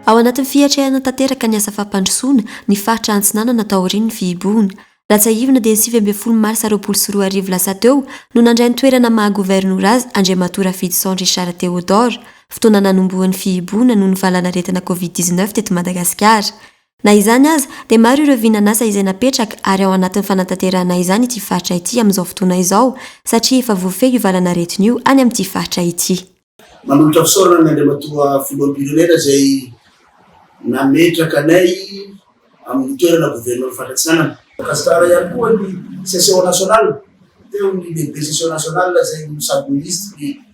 Ao anatin'ny fiatrehana tanteraka ny asa fampandrosoana ny faritra Antsinanana taorian'ny fihibohana. Raha tsiahivina dia ny sivy ambin'ny folo marsa roapolo sy roa arivo lasa teo no nandray ny toerana maha governora azy Andriamatoa Rafidison Richard Théodore. Fotoana nanombohan'ny fihibohana noho ny valanaretina Covid dix-neuf teto Madagasikara. Na izany aza, dia maro ireo vinan'asa izay napetraka ary ao anatin'ny fanatanterahana izany ity faritra ity amin'izao fotoana izao satria efa voafehy io valan'aretina io any amin'ity faritra ity. Manolotra fisaorana ny Andriamatoa Filoham-pirenena izay nametraka anay amin'ny toerana Governoran'ny Faritra Atsinanana. Gasikara ihany koa ny Session Nationale teo, ny Lehibe Session Nationale izay no sady Minisitry ny.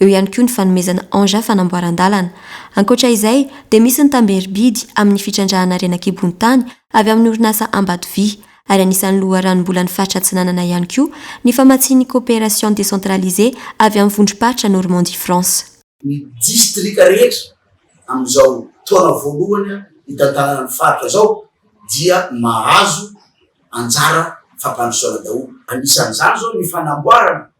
Eo ihany koa ny fanomezana engins fanamboaran-dalana. Ankoatra izay, dia misy ny tamberim-bidy amin'ny fitrandrahana harena an-kibontany avy amin'ny orinasa Ambatovy, ary anisan'ny loharanom-bolan'ny faritra Atsinanana ihany koa ny famatsian'ny coopération décentralisée avy amin'ny vondrom-paritra Normandie France. Ny distrika rehetra amin'izao taona voalohany hitantanana ny faritra izao dia mahazo anjara fampandrosoana daholo. Anisan'izany izao ny fanamboarana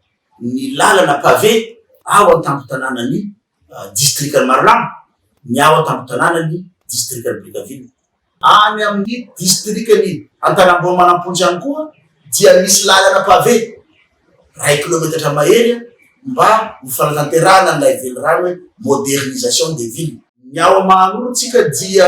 ny lalana pavé ao an-tampon-tanànan'ny distrikan'i Marolamba ny ao an-tampon-tanànan'ny distrikan'i Brickaville. Any amin'ny distrikan'i Antanambao manampontsy ihany koa dia misy lalana pavé iray kilometatra mahery mba ho fanatanterahana an'ilay velirano hoe modernisation des villes. Ny ao Mahanoro tsika dia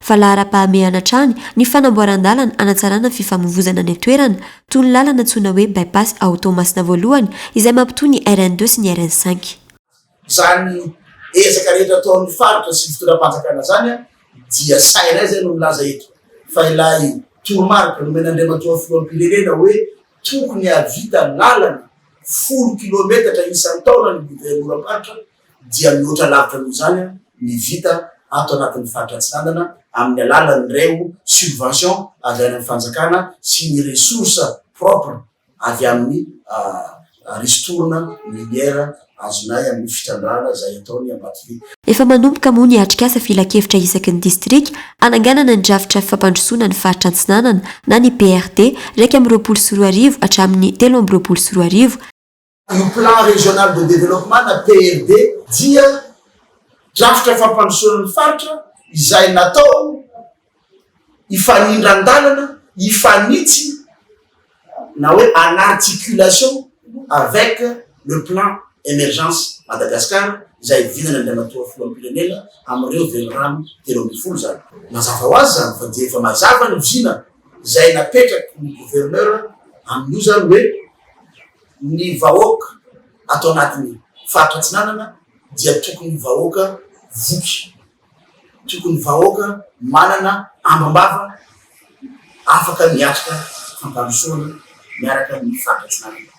fa laharam-pahamehana hatrany ny fanamboaran-dalana hanatsarana ny fifamoivozana any an-toerana, toy ny lalana antsoina hoe Bypass ao Toamasina Voalohany izay mampitohy ny RN deux sy ny RN cinq. Izany ezaka rehetra ataon'ny faritra sy ny fitondram-panjakana izany dia sahy ray izay no milaza eto fa ilay toromarika nomena Andriamatoa Filoham-pirenena hoe tokony hahavita lalana folo kilometatra isan-taona ny governoram-paritra dia mihoatra lavitra noho izany ny vita ato anatin'ny faritra Atsinanana amin'ny alalan'ireo subvention avy any amin'ny fanjakana sy ny ressource propre avy amin'ny ristourne minière azonay amin'ny fitrandrahana izay ataony Ambatobe. Efa manomboka moa ny atrikasa filankevitra isaky ny distrika hananganana ny drafitra fampandrosoana ny faritra Antsinanana na ny PRD iraika amby roapolo sy roa arivo hatramin'ny telo amby roapolo sy roa arivo, Io Plan Régional de Développement na PRD dia drafitra fampandrosoana ny faritra izay natao hifanindran-dalana, hifanitsy na hoe en articulation avec le Plan Emergence Madagascar izay vinana ny Andriamatoa Filoham-pirenena amin'ireo velirano telo ambin'ny folo izany. Mazava ho azy izany fa dia efa mazava ny vina izay napetraky ny Gouverneur amin'io izany hoe Ny vahoaka ato anatin'ny Faritra Atsinanana dia tokony vahoaka voky, tokony vahoaka manana ambam-bava afaka miatrika fampandrosoana miaraka amin'ny Faritra Atsinanana.